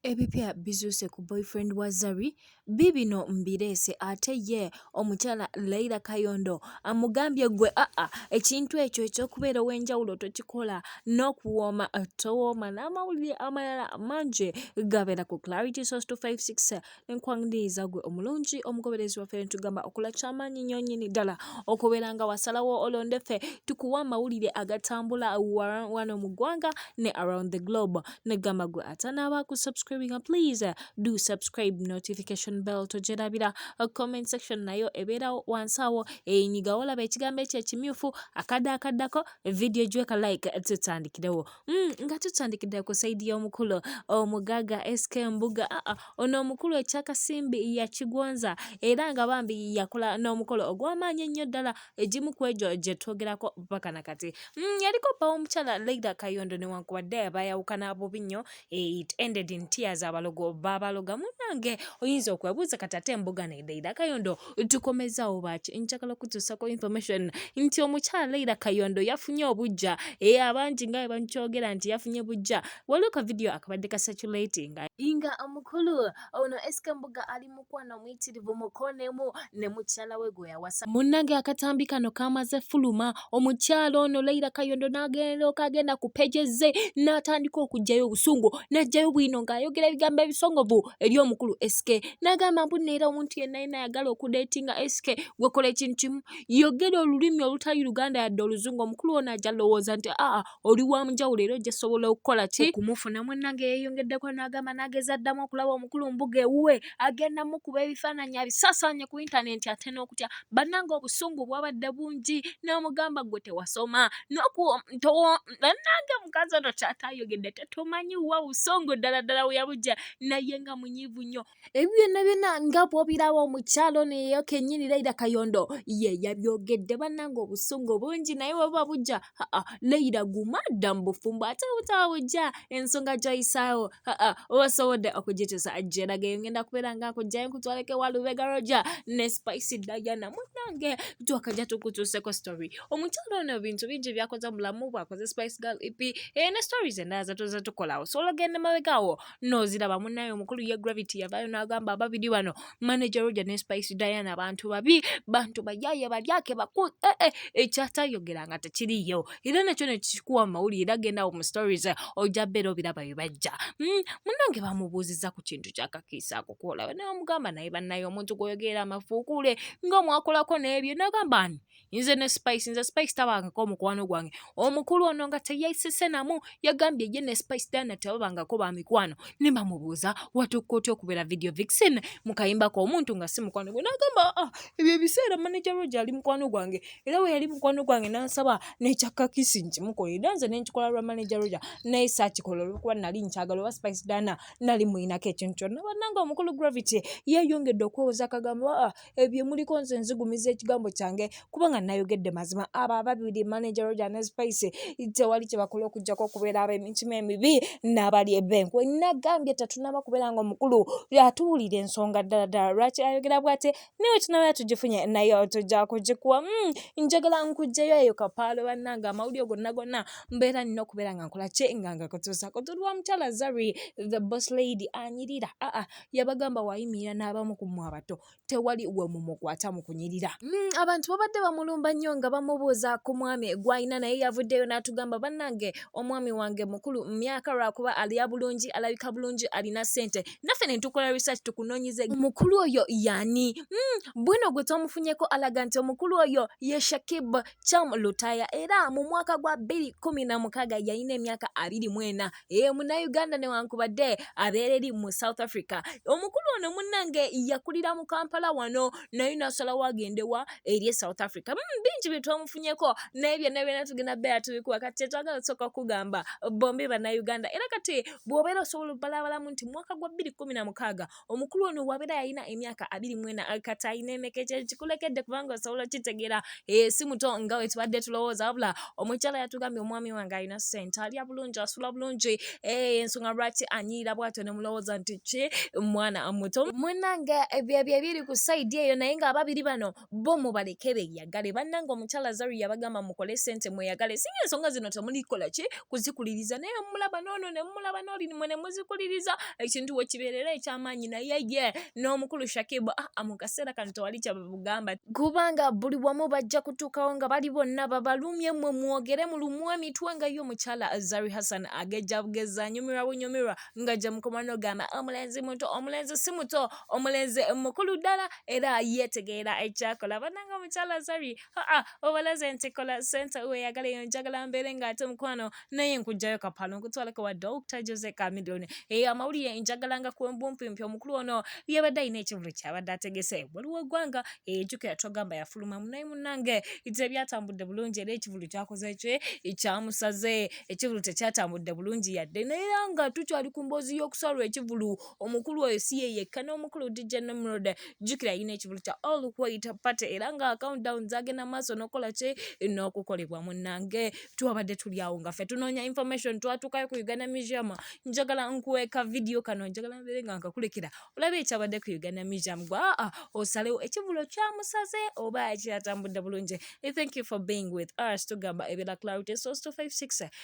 Ebipya bizuuse ku boyfriend wa Zari biibino mbireese ate ye omukyala Laila Kayondo amugambye gwe aa ah, ah, ekintu ekyo ekyokubeera ow'enjawulo tokikola n'okuwooma towooma n'amawulire amalala mangi gabeera ku Clarity Source 256 Nkwaniriza gwe omulungi omugoberezi waffe ntugamba okola kyamaanyi nnyo nnyini ddala okubeera nga wasalawo olonde ffe tukuwa amawulire agatambula wano mu ggwanga ne around the globe negamba gwe atanaaba ku subscribinga please do subscribe notification bell togyerabira comment section nayo ebeerawo wansi awo eyinyigawo olaba ekigambo ekyo ekimyufu akadde akaddako vidiyo gyeka like tutandikirewo Mm, nga tutandikidde ku saidi y'omukulu omugaga sk mbuga aa ah, ah, ono omukulu ekyakasimbi yakigonza era nga bambi yakola n'omukolo ogw'amaanyi ennyo ddala egimu ku egyo gye twogerako mpaka na kati mm, yaliko bba w'omukyala leida kayondo newankubadde bayawukana bubi nnyo eh, it ended in tears abalogo babaloga munange oyinza okwebuuza kati ate mbuga ne leida kayondo tukomezaawo bwaki njagala kutusako information nti omukyala leira kayondo yafunye obujja e eh, abangi nga webankyogera nti yafunye bujja waliwo ka vidiyo akabadde ka satulatinga inga omukulu ono esika mbuga ali mukwano omuyitirivu mukonemu ne mukyala we gwe yawasa munnange akatambi kano kamaze fuluma omukyala ono Leila Kayondo n'agenda okagenda ku peje ze n'atandika okuggyayo obusungu n'aggyayo bwino ng'ayogera ebigambo ebisongovu eri omukulu SK n'agamba mbu neera omuntu yenna yenna ayagala okudeetinga SK gwekola ekintu kimu yogera olulimi olutali Luganda yadde oluzungu omukulu ono ajja lowooza nti aa oli wa munjawulo era ojja sobola okukola ki okumufuna munnange yeeyongeddeko n'agamba n'ageza addamu okulaba omukulu mbuga ewuwe agenda mukuba ebifaananyi abisasaanye ku intanenti ate n'okutya bannange obusungu bwabadde bungi n'omugamba gwe tewasoma bannange mukazi ono kyataayogedde tetumanyi wa busungu ddala ddala weyabujja naye nga munyiivu nnyo Ebyo byonna byonna nga bw'obiraba omukyalo ono eyo kennyini Leira Kayondo ye yabyogedde bannange obusungu bungi naye bwe buba bujja aa Leira guma dda mu bufumbo ate bwe butaba bujja ensonga gy'oyisaawo aa oba osobodde okugituusa gyeraga eyo ngenda kubeera nga nkugyayo nkutwaleko ewa Lubega Roger ne Spice Diana munnange twakajja tukutuuseko story omukyalo ono ebintu bingi byakoze mu bulamu bwakoze Spice Girl EP eh, ne stories endala zatuuza tukolawo so olagenda mabegaawo noziraba munaye omukulu ye gravity yavayo nagamba ababiri bano manager roger ne spice diana bantu babi bantu bayaye balyake baku ee eh, eh, ekyatayogera nga tekiriyo era nakyo nekikuwa amawulire era gendawo mu stories ojja beera obiraba bibajja hmm, munange bamubuuziza ku kintu kyakakiisa akukuola namugamba naye banaye omuntu gwoyogerera amafuukuule nga omwakolako nebyo nagamba ani nze ne spice nze spice tabangako mukwano gwange omukulu ono nga teyayisise namu yagambye ye ne spice dana tebabangako ba mikwano ne bamubuuza watukka otya okubeera video vixen mukayimbako omuntu nga si mukwano gwe nagamba ah, ebyo ebiseera manager roge ali mukwano gwange era we yali mukwano gwange nansaba nekyakakisi nkimukola era nze nenkikola lwa manager roge naye sakikola olwokuba nali nkyagala oba spice dana nali muyinako ekintu kyonna bananga omukulu gravity yeyongedde okwewoza akagambo ah, ebyo muliko nze nzigumiza ekigambo kyange kubanga nayogedde mazima abo ababiri manager roger ne spice tewali kyebakola okujjako okubeera ab'emitima emibi n'abali ebenkwe nagambye tetunaba kubeera nga omukulu atuwulira ensonga ddala ddala lwaki ayogera bwate naye wetunaba tugifunye naye tujja kugikuwa hmm, njagala nkugjeyo eyo kapaalo bannange amawulire gonna gonna mbeera nina okubeera nga nkola kye nga nga kutuusako tuli wa mukyala zari the boss lady anyirira aa ah, ah. yabagamba wayimirira n'abamu ku mmwe abato tewali we mumukwata mu kunyirira mm, abantu babadde bamulumba nnyo nga bamubuuza ku mwami gwalina naye yavuddeyo n'atugamba bannange omwami wange mukulu mu myaka lwakuba alya bulungi alabika bulungi alina ssente naffe ne tukola research tukunoonyeze omukulu oyo yani mm, bwino gwe twamufunyeko alaga nti omukulu oyo ye shakib cham lutaya era mu mwaka gwa 2 1 na mukaaga yalina emyaka abiri mwena ee eh, munauganda newankubadde abeera eri mu south africa omukulu ono munnange yakulira mu kampala wano naye nasalawo agendewa eri e south africa mm, bingi byetwamufunyeko naye byonna byona tugenda beera tubikuwa kati kyetwagala osooka okugamba bombi banauganda era kati bwobeera osobola obalabalamu nti mwaka gwa bbiri kumi na mukaaga omukulu ono wabeera yalina emyaka abiri mwena katalina emeka ekyo kikulekedde kubanga osobola okitegeera eh, si muto nga wetubadde tulowooza wabula omukyala yatugambye omwami wange alina sente alya bulungi asula bulungi eh, ensonga lwaki anyiira bwatyo nemulowooza nti ki mwana muto mwenange byebyo ebiri ku saidi eyo naye nga ababiri bano bo mubaleke beyagale bannange omukyala zaru yabagamba mukole sente mweyagale singa ensonga zino temulikola ki kuzikuliriza naye mumulaba noono ne mumulaba nooli mwe ne muzikuliriza ekintu we kibeerera eky'amaanyi naye ye n'omukulu shakibu aa ah, ah, mu kaseera kano tewali kyabagamba kubanga buli wamu bajja kutuukawo nga bali bonna babalumye mwe mwogere mulumwa emitwe nga ye omukyala zari hassan agejja bugezza anyumirwa bunyumirwa nga gye mukoma n'ogamba omulenzi muto omulenzi si muto omulenzi mukulu ddala era yeetegeera ekyakola bannanga omukyala zari aa obalaze nti kola sente weyagala eyo njagala mbeere ng'ate mukwano naye nkugjayo kapalo nkutwaleko wa dr jose camilion eyo amawulire njagala nga kwembumpimpi omukulu ono yabadde alina ekivulu kyabadde ategese waliwo eggwanga ejukira togamba yafuluma munaye munange tebyatambudde bulungi era ekivulu kyakoze kye ekyamusaze ekivulu tekyatambudde bulungi yadde naye nga tukyali ku mboozi y'okusalwa ekivulu omukulu oyo si ye yekka n'omukulu DJ Nimrod jjukira yina ekivulu kya all white party era nga countdown zagenda maaso n'okukola ki n'okukolebwa munnange twabadde tuli awo nga ffe tunoonya information twatuukayo ku Uganda Museum njagala nkuweeka vidiyo kano njagala mbeere nga nkakulekera olaba ekyabadde ku Uganda Museum gwe aa ah, ah, osalewo ekivulu kyamusaze oba kyatambudde bulungi thank you for being with us tugamba ebera clarity source 256